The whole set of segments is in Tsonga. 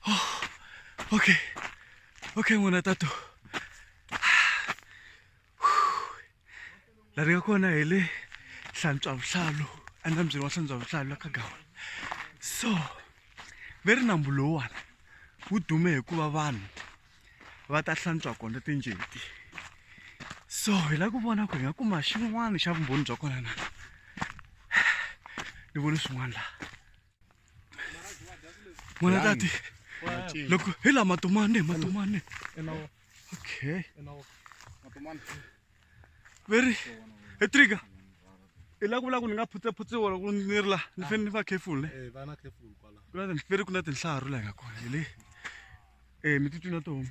Oh, okay. Okay muna tatu. La ringa kona hi le hlantswa vuhlalu enambyeni wa hlantswa vuhlalu la ka gawana so ve ri nambu lowuwani wu dume hikuva vanhu va ta hlantswa kona tinjeti so hi lava ku vona ku hi nga kuma xin'wana xa vumbhoni bya kona na ni voni swin'wana laha n'wana tati loko hi la matomani hi matomani okay veri he trigger hi la ku vula ku ni nga phutsephutsewa loko ni ri la ni fane ni va careful ne eh, ku na veri ku na tinhlaru la hi nga kona hi le um mi titwi na tihoma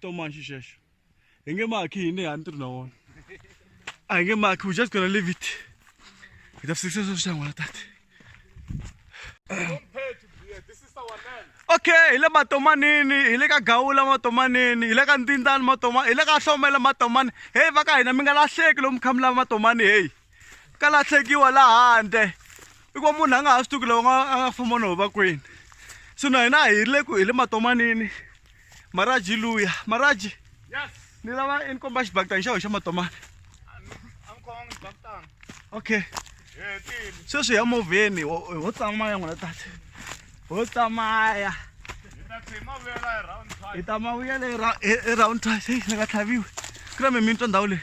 Toma xixexo. Hi nge maki hine a ni tirhi na wona. A hi nge maki we just gonna leave it. Hi ta fikisa sweswi xa n'wana tata. Okay, hi le matomanini, hi le ka gawula matomanini, hi le ka ntindani matoma, hi le ka hlomela matomani. Hey va ka hina mi nga lahleki lomu khamulava matomani hey. ka latlhekiwa la handle i ku munhu a nga ha swi tivi ku lava a nga famba no va kwini so na hina hi le ku hi le matomanini maraji luya maraji ni lava i ni komba xibakitani xa ho xa matomani okay sweswi ya movheni ho tsamaya n'wina tati ho tsamaya hi ta mavuyela hi round twice ni nga tlhaviwi ku na mi mi twa ndhawu leyi